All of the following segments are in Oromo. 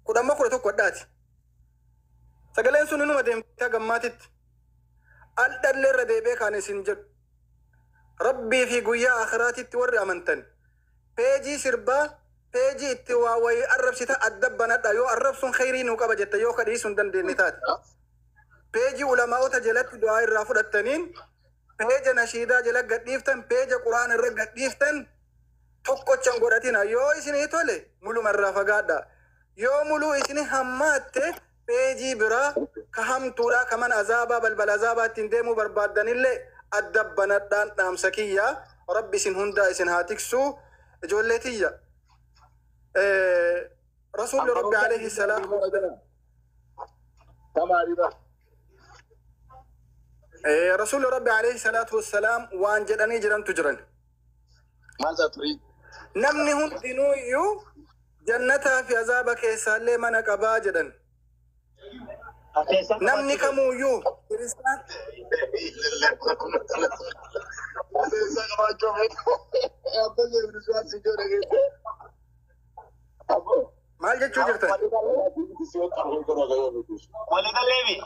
kudha amma kudha tokko adhaati. Sagaleen sun inuma deemtee gammaatitti. Al dhallee irra deebi'ee kaan isin jedhu. Rabbii fi guyyaa akhiraatitti warri amantan. Peejii sirbaa peejii itti waa wayii arrabsita adda banadha yoo arrabsuun kheyrii nuu qaba jette yoo kadhiisuu hin dandeenye taate. Peejii ulamaa'ota jalatti du'aa irraa fudhattaniin peeja nashiidaa jala gadhiiftan peeja quraan irra gadhiiftan tokkocha hin godhatinaa. Yoo isinii tole muluma irraa fagaadhaa. Yoo muluu isini hammaatte peejii biraa ka hamtuudhaa ka mana azaabaa balbala azaabaa ittiin deemuu barbaaddanillee adda banadhaan dhaamsa kiyya. Rabbi isin hundaa isin haa tiksu. Ijoollee tiyya. Eh, Rasuulli Rabbi alayhi salaatu wa salaam. Eh, Rasuulli Rabbi alayhi salaatu wa salaam waan jedhanii jirantu jiran. Maal taatu ree? Namni hundinuu iyyuu jannataa fi azaaba keessaallee mana qabaa jedhan. Namni kamuu iyyuu kiristaan maal jechuu jirtan? Waliigallee miti.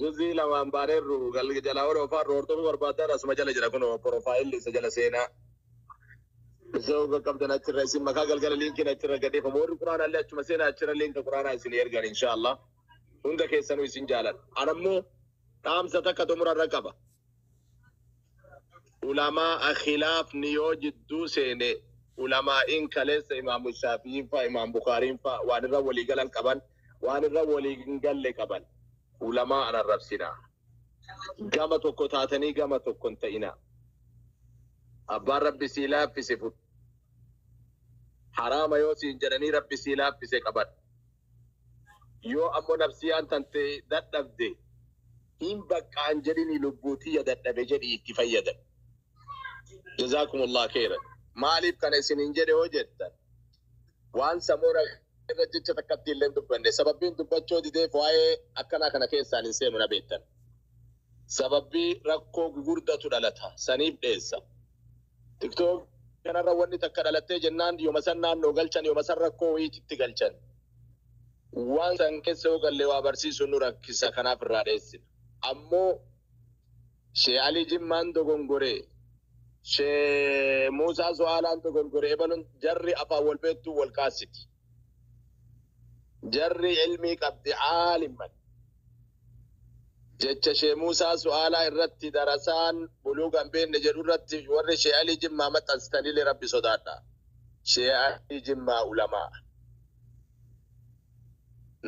Juzii lamaan baaneerru gal jalaa warri ofaarru hordofuu barbaaddan asuma jala jira kunoo porofaayilli isa jala seenaa. Isa hoga qabdan achirra isin makaa galgala liinkiin achirra gadeefama warri quraana illee achuma seenaa achirra liinka quraanaa isin ergan inshaallah. Hunda keessanuu isin jaaladha. Anammoo dhaamsa takka xumurarra qaba. ulamaa'a khilaafni yoo jidduu seene ulamaa'iin kaleessa imaamu shaafi'iin fa'a imaam bukaariin fa'a waan irra walii galan qaban waan irra walii hin galle qaban ulamaa an arrabsina gama tokko taatanii gama tokko hin ta'ina abbaan rabbi sii laaffise fudhu haraama yoo siin jedhanii rabbi sii laaffise qaban Yoo ammo nafsiyaan tante dadhabde hin baqqa hin jedhini lubbuu tiyya dadhabe jedhi itti fayyadami. Jazaakumullaah kheeyran. Maaliif kana isiniin jedhe yoo jettan waan sammuu namaa irra jecha takkatti illee hin dubbanne sababbiin dubbachoo dideef waa'ee akkanaa kana keessaan hin seenu na beektan. Sababbii rakkoo gugurdatu dhalata saniif dheessa. Tiktok kanarra wanni takka dhalattee jennaan yoma san naannoo galchan yoma san rakkoo wayii itti galchan. Waan san keessa yoo galle waa barsiisuun nu rakkisa kanaaf irraa dheessina. Ammoo Shee Alii Jimmaan dogongore, Shee Muusaa Su'aalaan dogongore ebalun jarri afaan wal beettuu wal kaassiti. Jarri ilmii qabdi aalimman. Jecha Shee Muusaa Su'aalaa irratti darasaan buluuga hin beekne jedhu irratti warri Shee Alii Jimmaa maxxansitanillee Rabbi sodaadhaa. Shee Alii Jimmaa ulamaa.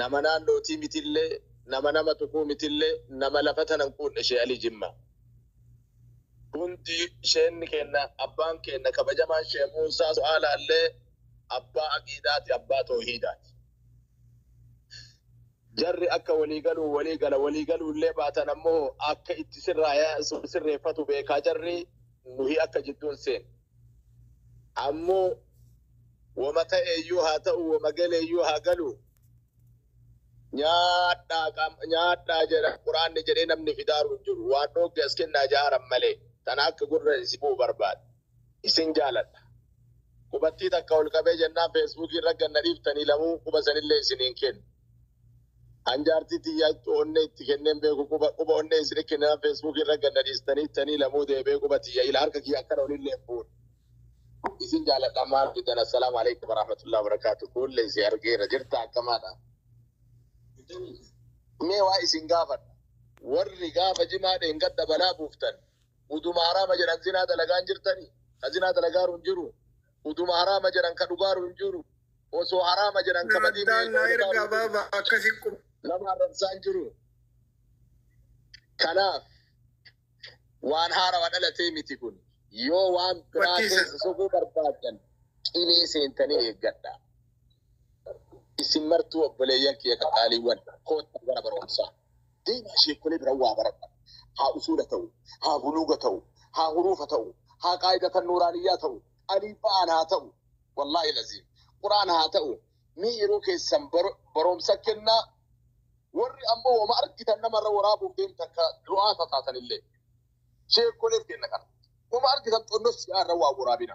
Nama naannootii mitillee, nama nama tuquu mitillee, nama lafa tana hin quudne Shee Alii Jimmaa. Hundi sheenni keenna, abbaan keenna kabajamaan Shee Muusaa Su'aalaallee abbaa aqiidaati abbaa toohiidaati. Jarri akka walii galuun walii gala walii galuu illee baatan ammoo akka itti sirraaya sirreeffatu beekaa jarri nuhi akka jidduu hin seenne. Ammoo woma ta'eeyyuu haa ta'u woma galeeyyuu haa galu nyaadhaa qam- nyaadhaa jedha quraanni jedhee namni fidaaru hin jiru waan dhoogge as kennaa jaaran malee tana akka gurra si bu'u barbaada. Isin jaaladha. Qubattii takka ol qabee jennaan Facebook irra gad na dhiiftanii lamuu quba sanillee isinii hin kennu. An jaartii tiyya ittu onnee itti kennee hin beeku quba quba onnee isini kenninaan Facebook irra gad na dhiistanii ittanii lamuu deebi'ee quba tiyya ila harka kiyya akkana olillee hin fuune. Isin jaaladha maal fidan Assalaamu Aleykum Warahmatullahi Wabarakaatu Kuulle isi argeera jirta akkamaadha. Mee waa isin gaafadha. Warri gaafa jimaa dheengadda balaa buuftan uduma harama jedhan zinaa dalagaa hin jirtani ka zinaa dalagaaru hin jiru uduma harama jedhan ka dhugaaru hin jiru osoo harama jedhan ka badii Addaan naa miidhagaaru ergaa hin jiru. baaba akkasi qub. nama arrabsaa hin jiru kanaaf waan haarawa dhalatee miti kun yoo waan biraa Barsiisa. keessa sokuu barbaadan qilee seentanii eeggadha isin martuu obboleeyyan kiyya qaxaaliiwwan koottaa gara barumsaa Deemaa sheekkolee bira waa baradha. Haa usuula ta'u, haa buluuga ta'u, haa huruufa ta'u, haa qaa'idatan nuuraaniyyaa ta'u, aliif ba'aan haa ta'u. Wallaahi laziim. Qur'aana haa ta'u. Mee yeroo keessan bar- baroomsa kennaa. Warri ammoo wama argitan namarra waraabuuf deemtan ka du'aata taatanillee. Sheekkoleef kenna kana. Wama argitan xonnossi irra waa waraabina.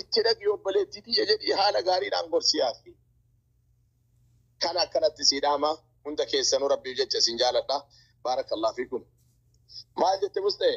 Itti dhaqi obboleettii tiyya jedhii haala gaariidhaan gorsi yaafi. Kana akkanatti sii dhaama hunda keessanuu rabbiif jecha isin jaaladha. Baarakallah fiikum. Maal jette Musxee?